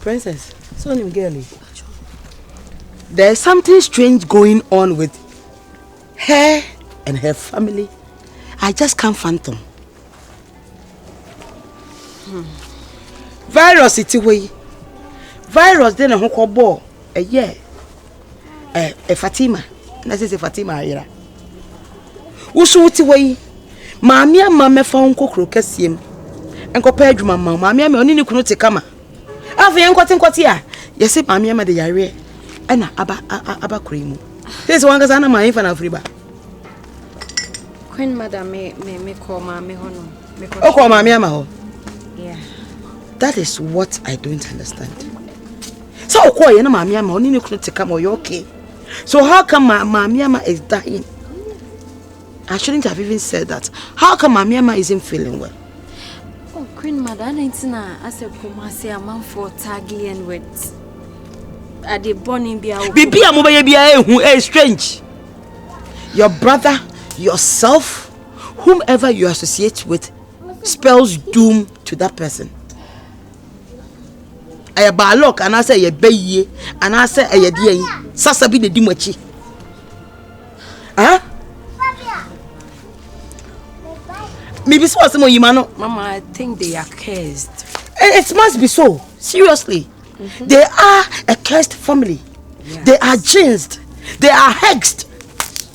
Princess, so nim girl yi? There is something strange going on with her and her family. I just can't phantom. Hmm. Virus ti hɔ yi. Virus de ne ho kɔ bɔɔ ɛyɛ. Ɛ ɛ Fatima na sese Fatima ayera woso wote hɔ yi maame ama mɛfa wo nkokoro kɛseɛ mu nkɔpɛ adwuma ma maame ama ɔne ne kunu te kama afei yɛnkɔte nkɔte a yɛse maame ama de yareɛ ɛna aba aba kora yi mu sese wankasa na maame fa no afiri ba Queen Mother me me me call maame hɔ no me call oh call maame ama hɔ yeah that is what I don't understand sɛ ɔkɔɔ yɛ na maame ama ɔne ne kunu te kama ɔyɛ okay so how come ma maame ama is dying I shouldn't have even said that how come maame ama isn't feeling well. Oh, Queen Mother, I need to know as a Kumasi amanfo tagging and with at the burning be our. Bibi amobeye be a who is strange. Your brother, yourself, whomever you associate with, spells doom to that person. ɛyɛ bad luck anaasɛ ɛyɛ bɛ yie anaasɛ ɛyɛ deɛ yi sasa bi na di mo akyi ɛn bibi sɛ ɔsɛ mo yima no. mama i think they are cursed. Eh, it must be so seriously mm -hmm. they are a cursed family yeah. they are jinxed they are hexed.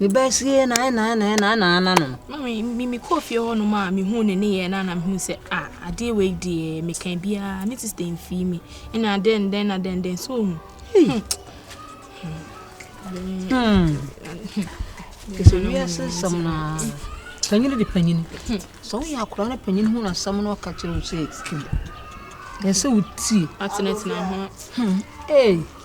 Mebaa fie na ɛna ɛna ɛna ɛna ɛna no. Mami mi mi kɔɔ fie hɔ nom a mehuu ne nneyɛɛ na na mehuu sɛ a adeɛ wei deɛ meka biara ne sista mfii mi ɛna adɛn dɛn na dɛn dɛn so ohu. Ɛsɛ wiase nsɛm na panyin de panyin sɛ woyɛ akora no panyin ho na asɛm no ɔka kyerɛ wo sɛ ɛsɛ wotie. Atenatena ho. Ee.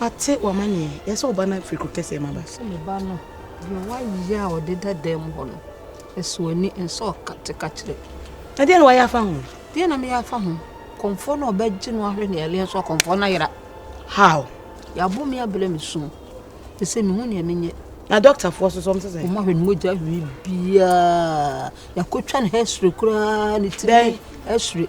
W'ate w'amanneɛ, yɛ sɛ ɔba no afiri kuro kɛseɛ mu aba. Sɛ me ba no, deɛ w'ayɛ a ɔde da dan mu hɔ no, ɛsɔ w'ani, ɛnsɛ ɔkate ka kyerɛ. Na deɛ na w'ayɛ afa ho? Deɛ na meyɛ afa ho? Kɔmfoɔ no ɔbɛgye no ahwɛ ne ɛleɛ nso akɔmfoɔ no ayera. How? Y'abo me abrɛ me sum, te sɛ mehu nea menyɛ. Na doctor foɔ so so ɔmo sɛ. Ɔmo ahwɛ ne mogya ahwɛ biara, y'akotwa ne hɛ sere koraa ne tiri hɛ sere.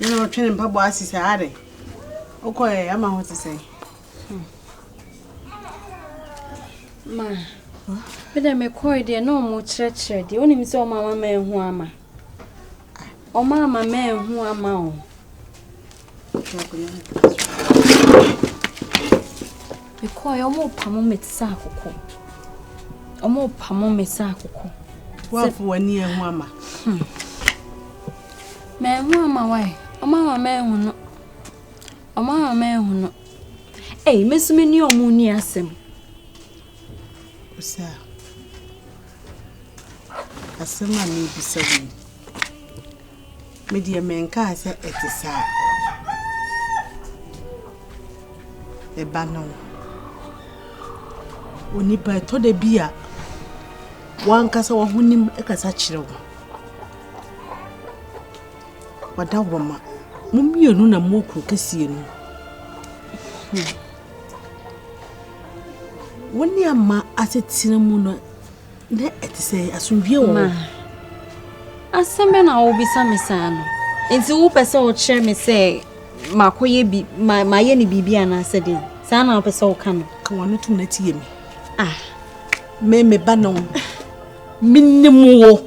Ɛna ɔtwe ne mpaboa ase sɛ are wokɔɛ ama ho te sɛn Ma, me dɛ mekɔe deɛ na ɔmo kyerɛkyerɛ deɛ wonim sɛ ɔmo ama ma ehu ama ɔmo ama ma ehu ama o. Mekɔe ɔmo pamo me te sɛ akokɔ ɔmo pamo me sɛ akokɔ. Wafo w'ani ehu ama. Hmm. Ma ehu ama wae ɔmo ama ma ehu no. Ɔmo ama manhunu. Ei, me nso mene ɔmo nni asɛm. Ɔsɛ a, asɛm a mebisa wo yi, medeɛ menkaa sɛ ɛte saa. Ɛba no, onipa ɛtɔ da bi a wankasa wahonim kasa kyerɛ wo. Wadawɔrma, mo mmienu na mowɔ kuro kɛseɛ no mu. Wo ne ama asetena mu no na ɛte sɛ asomdwie wɔ hɔ. Asɛm bɛ na wobisa me saa no. Nti wopɛ sɛ wokyerɛ me sɛ makɔyɛ bi mayɛ ne biribi anaasɛ den. Saa na wopɛ sɛ woka no. Ka wano tom na tie me. Ah. Me me ba no. Menim wo.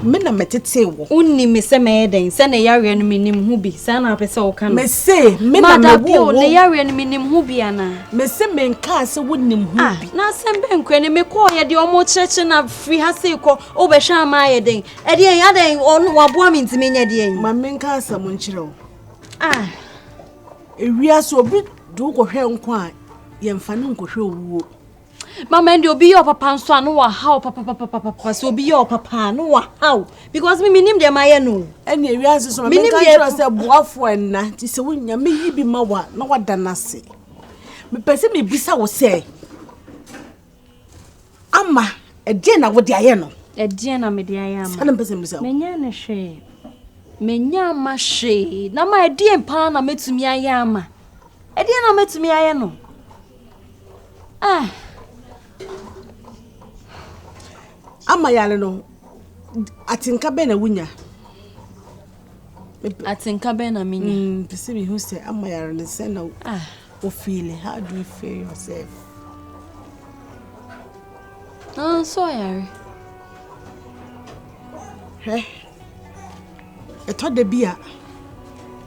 Me na metetee wo. Wonni me sɛ mɛyɛ dɛn sɛ ne yareɛ no menim ho bi saa na wopɛ sɛ woka no. Mese me na mewoo wo. Ne yareɛ no menim ho bi anaa. Mese menkaa sɛ wonim ho ah, bi. Na asɛm bɛn korɛ ne mekɔɔyɛ deɛ ɔmo kyerɛkyerɛ na firi ha sei kɔ wobɛhwɛ ama ayɛ dɛn ɛdeɛn adɛn ɔno waboa me nti menyɛ deɛn. Ma menka asɛm nkyerɛ wo. Ah. Ewia so obi de wokɔhwɛ nkwa a yɛmfa no nkɔhwɛ owuo. Mama ɛnde obi yɛ ɔpapa nso a no wahaw papapapapapa sɛ obi yɛ ɔpapa a no wahaw because me menim deɛ mayɛ no ɛne awia nso so ma menka kyerɛ sɛ boafoɔ ɛnna nti sɛ wonya meyi bi ma wa na wada no ase mepɛ sɛ mebisa wo sɛ ama ɛdeɛ na wode ayɛ no ɛdeɛ na mede ayɛ ama ɛna mpɛ sɛ mebisa wo menya no hwee menya ama hwee na ma ɛdeɛ paa na mɛtumi ayɛ ama Ɛdeɛn na mɛtumi ayɛ no? Ah. ama yare no atenka bɛn na wonya atenka bɛn na menya mm, pɛ sɛ mehu sɛ ama yare no sɛ na ah. wofeele how do you feel yourself ah, so ɔyare hwɛ Ɛtɔ da bi a,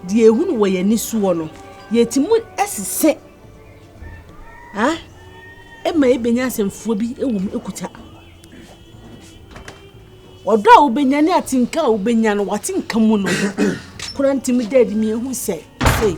deɛ yɛhunu wɔ yɛn ani soɔ no, yɛtumi sesɛ ma yɛbɛnya asɛmfua bi wɔ mu kuta. Ɔdɔ a wobɛnya ne atenka a wobɛnya no, w'atenka mu no koraa tumi da adi ma yɛhu sɛ, sei.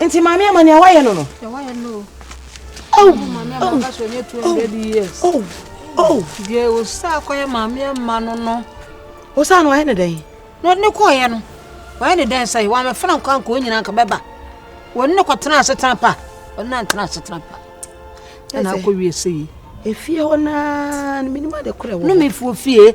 Nti maame ama nea wayɛ no no. Nea wayɛ no. Oh, maame ama nka so nye 200 years. Oh, oh. Deɛ osa akɔyɛ maame ama no no. Osa no ayɛ ne dɛn? No ne kɔɔyɛ no. Wayɛ ne dɛn sɛ wɔn amefra nkɔ anka wɔn nyinaa nka bɛba. Wɔn ne kɔtena asetena pa. Wɔn ne antena asetena pa. Ɛna akɔ wie sɛ yi. Efie hɔ naa no menim ade korɛ wɔ. No mefuo fie.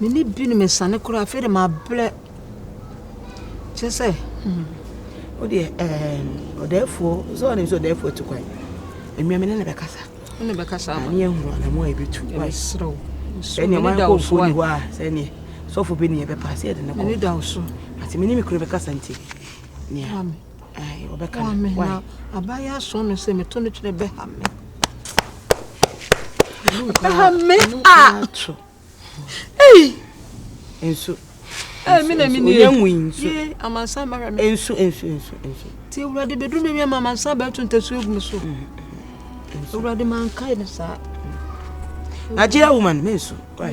Me ne binom asiane koraa, afei de mabrɛ. Kyerɛ sɛ, hmm, wodeɛ ɛɛ ɔdɛɛfoɔ sɛ ɔnim sɛ ɔdɛɛfoɔ tu kwan. Mmea me ne ne bɛkasa. Me ne bɛkasa ama. Ne ehunu anamo a ebetu. Ɛbɛsrɛw. Sɛ nea ɔman kɔ nfuo ni hɔ a, sɛ nea sɔfo bɛ ni ɛbɛpa sɛ ɛde ne kɔ. Me ne da so. Ate me ne me kunu bɛkasa nti. Nea. Ae ɔbɛka no why. Wame na abayɛ aso no sɛ meto no kyerɛ bɛha me. Bɛha me a. Ei. Nso. Ei me na me ni. Onya nwi nso. Ye amansan ma hwɛ me. Nso nso nso nso. Ti awurade bedu me wi ama amansan ba to ntasu egu me so. Mm, mm, awurade mankae ne saa. Nigeria woman me nso. Why?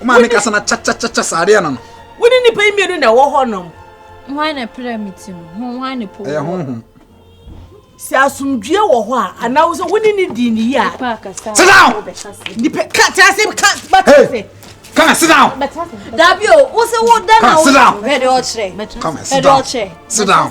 Woma ne kasa na kyakyakya saa adeɛ no no. Wo ne nipa yi mmienu na ɛwɔ hɔ nom. Hwan na pira mi ti no? Ho hwan ne po? Ɛyɛ honhom. Sɛ asomdwie wɔ hɔ a anaa wo sɛ wo ne ne di ne yi a. Sit down. Nipa ka te ase ka ba te ase. Come and sit down. Dabi o, wo se wo da na wo. Come and sit down. Come and sit down. Sit down.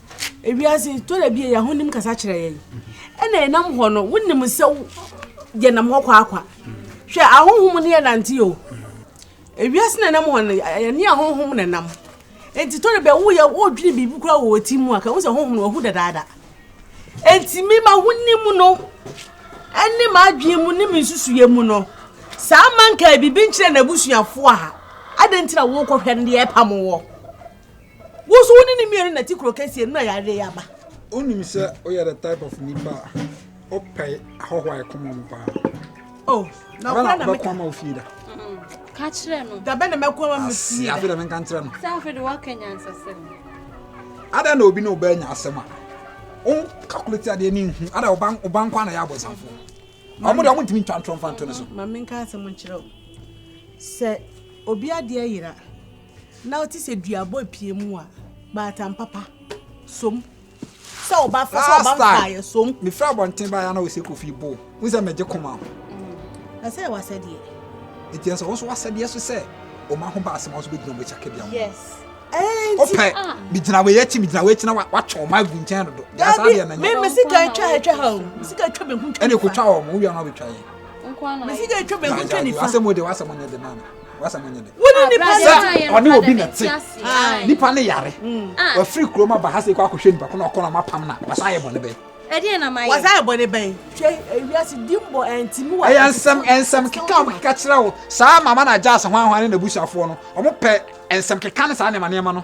Ewiase, tɔ da bi yɛ ahonim kasa kyerɛ yɛn, ɛna ɛnam hɔ no, wonim sɛ yɛnam hɔ kwaakwa. Hwɛ, ahonhom ne yɛnante o. Ewiase na ɛnam hɔ no, ɛne ahonhom na ɛnam. Enti tɔ da bi a woyɛ wodwene biribi koraa wɔ ɔti mu a, ka wo sɛ honhom no wahu dadaada. Enti me ma wonim no, ɛne m'adwene mu ne me nsusuiɛ mu no, saa mankaa biribi nkyerɛ n'abusuafoɔ a, adɛn nti na wokɔhwɛ no deɛ ɛpamo wɔ? Wo so wo ne ne mmienu na ti kuro kɛseɛ no na yareɛ yi aba. Wonim sɛ woyɛ the type of nipa a wopɛ ahɔho a ɛkɔm ɔmo paa. Oh, na ɔkora na meka. Ɔbɛkɔma ofie da. Ka kyerɛ no. Dabɛ na mɛkɔma me fie da. Afei na menka nkyerɛ no. Sɛ afei de woaka nyansasɛm. Ada na obi na ɔbɛ nya asɛm a. Wo calculate adeɛ ne nhu. Ada ɔba nkwa na yɛ abɔsamfo. Ɔmo de ɔmo ntumi ntwa ntorɔ mfa nto ne so. Ma menka asɛm nkyerɛ wo. Sɛ obi adeɛ yera. Na ɔte sɛ duabɔ apue mu a baatan papa som. Sɛ ɔba fa sɛ ɔba mfa yɛ som. Me fra abɔnten ba ya na ɔsɛ kofi bo. Wo sɛ megye koma ho. Mm. Na sɛ wasɛdeɛ. Eti ɛsɛ wɔn so wasɛdeɛ so sɛ wɔn aho ba asɛm wɔn so bɛgyina wɔn akyi akɛdeɛ ho. Yes. Ɔpɛ ah. megyina wei akyi megyina wei akyi na watwa wɔn agu nkyɛn dodo. Yasa deɛ na nyɛ. Mɛ mɛ sika atwa atwa ha o. Sika atwa bɛ ho ntwa nifa. Ɛna ekotwa wɔn mo wia na ɔbɛtwa yɛn. Mɛ sika atwa bɛ ho ntwa nifa. Asɛm o de wasɛm nyɛ de nana. w'asɛm nyɛ dɛ. Wone nipa sɛ ɔne obi na te nipa ne yare wafiri kurom aba ha sɛ kɔ akɔhwɛ nipa ko na ɔkɔ na ɔma pam na wasan ayɛ bɔne bɛn. Ɛdeɛ na mayɛ. Wasan ayɛ bɔne bɛn. Hwɛ ewiase dimbɔ ɛntimi wɔ. Ɛyɛ nsɛm nsɛm keka wɔn keka kyerɛ wo saa mama na agya asahwanhwan ne n'abusuafoɔ no wɔn pɛ nsɛm keka ne saa nneɛma nneɛma no.